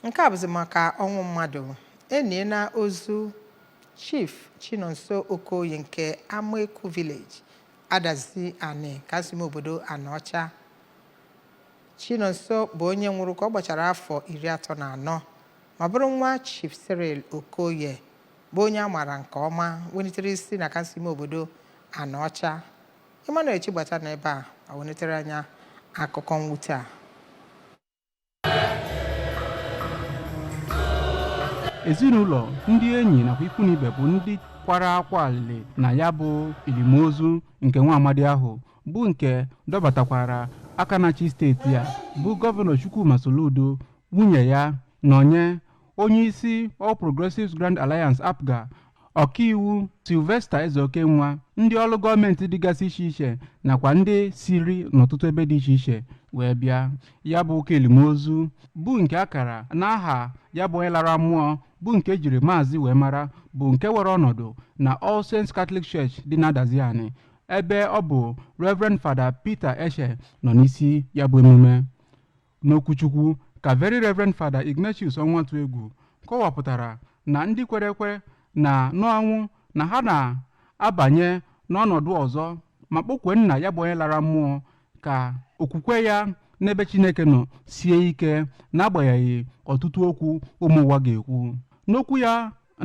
nke a bụzi maka ọnwụ mmadụ eniela ozu chief chinonso okoye nke amaeku village adazi ani kansụl ime obodo anaọcha chinonso bụ onye nwụrụ ka ọ gbachara afọ iri atọ na anọ ma bụrụ nwa chief cyril okoye bụ onye a maara nke ọma welitere isi na kansụl ime obodo anaọcha emmanuel chigbata na ebe a welitere anyị akụkọ mwute a ezinụlọ ndị enyi nakwa ikwu na ibe bụ ndị kwara akwa alịlị na ya bụ elimozu nke nwa amadi ahụ bụ nke dọbatakwara aka na-achị steeti a bụ gọvanọ chukwuma soludo nwunye ya nọnye onye isi All Progressives Grand Alliance APGA ọkaiwu Sylvester Ezeokenwa ndị ọrụ gọọmenti dịgasị iche iche nakwa ndị siri n'ọtụtụ ebe dị iche iche wee bịa ya bụ ụka elimozu bụ nke a kara n'aha ya bụ onye lara mmụọ bụ nke e jiri maazị wee mara bụ nke were ọnọdụ na All Saints Catholic Church dị na Adazi Ani ebe ọ bụ Reverend Fada Peter Eche nọ n'isi ya bụ emume n'okwuchukwu ka very reverend fada ignatius ọnwụatụegwu kọwapụtara na ndị kwere ekwe na n'ọnwụ na ha na-abanye n'ọnọdụ ọzọ ma kpọkwue nna ya bụ onye lara mmụọ ka okwukwe ya n'ebe chineke nọ sie ike n'agbanyeghị ọtụtụ okwu ụmụ ụwa ga-ekwu n'okwu ya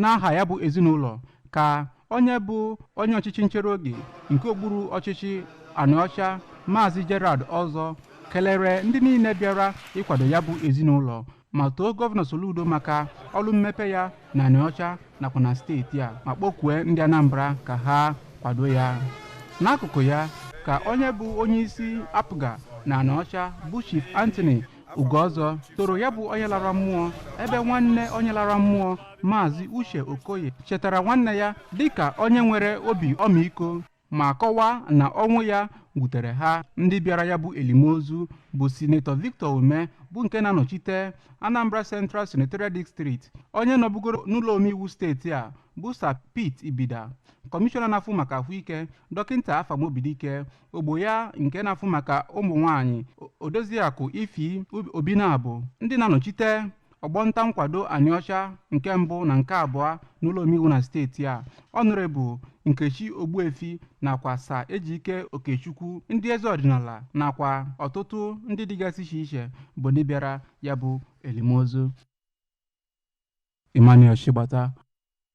n'aha ya bụ ezinụlọ ka onye bụ onye ọchịchị nchere oge nke okpuru ọchịchị anaọcha maazị gerald ọzọ kelere ndị niile bịara ịkwado ya bụ ezinụlọ ma too gọvanọ soludo maka ọrụ mmepe ya na anaọcha nakwa na steeti a ma kpọkue ndị anambra ka ha kwado ya n'akụkụ ya ka onye bụ onye isi apga na anaọcha bụ chief anthony ugo ọzọ toro ya bụ onye lara mmụọ ebe nwanne onye lara mmụọ maazị uche okoye chetara nwanne ya dịka onye nwere obi ọmịiko ma kọwaa na ọnwụ ya wutere ha ndị bịara ya bụ elimozu bụ sinetọ victor umeh bụ nke na-anọchite anambra central senatorial district onye nọbugoro n'ụlọ omeiwu steeti a bụ sir pete ibida kọmishọna na-afụ maka ahụike dọkịta afam obidike ogbo ya nke na-afụ maka ụmụ nwaanyị odoziakụ ify obinabo ndị na-anọchite ọgbọ nta nkwado anaọcha nke mbụ na nke abụọ n'ụlọ omeiwu na steeti a ọnọrebụ nkechi ogbuefi nakwa sir ejike okechukwu ndị eze ọdịnala nakwa ọtụtụ ndị dịgasị iche iche bụ ndị bịara ya bụ elimozu emmanuel chigbata